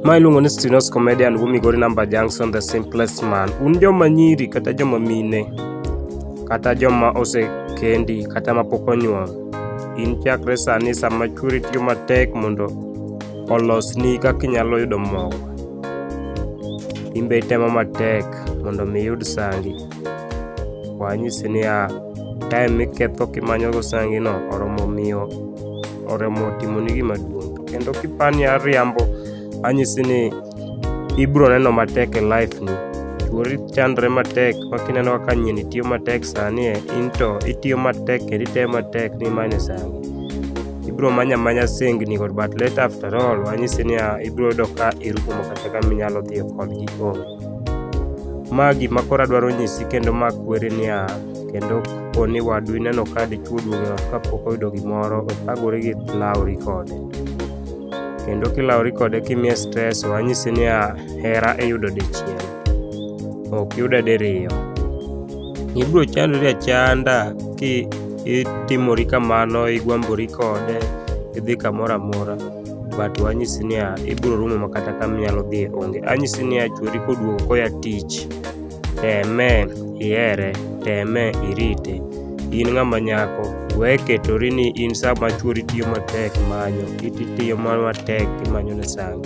ma iluongo ni Stinos Comedian wu Migori Number Junction the simplest man. Un joma nyiri kata joma mine kata joma osekendi kata ma pok onyuol in chakre sani sama chwori tiyo matek mondo olosni kaka inyalo yudo mogo in be itemo matek mondo mi iyud sangi. wanyisi niya time miketho kimanyogo sangino oromo miyo oromo timoni gima duong' to kendo kipani ariambo anyisi ni ibro neno matek e life ni chuori chandre matek ma kineno kaka nyini tiyo matek sani e in to itiyo matek kendo iteye matek ni manye sangi ibro manya manya singni kod but let after all wanyisi niya ibro yudo ka irumo kata kama inyalo dhiyo kodgi onge Ma gima koro adwaro nyisi kendo ma kwere niya, kendo kapo ni wadu ineno ka dichwo duong' ot kapok oyudo gimoro, ok agori gi lawri kode. Kendo kilawri kode kimiye stress, ok anyisi niya, hera iyudo dichiel. Ok yude diriyo. Ibiro chandori achanda ki itimori kamano, igwambori kode, idhi kamoro amora. but wanyisi niya ibiro rumo makata kama inyalo dhi onge anyisi niya chwori koduogo koya tich teme ihere teme irite in ng'ama nyako we ketori ni in sama chwori tiyo matek manyo iti tiyo matek imanyo ne sangu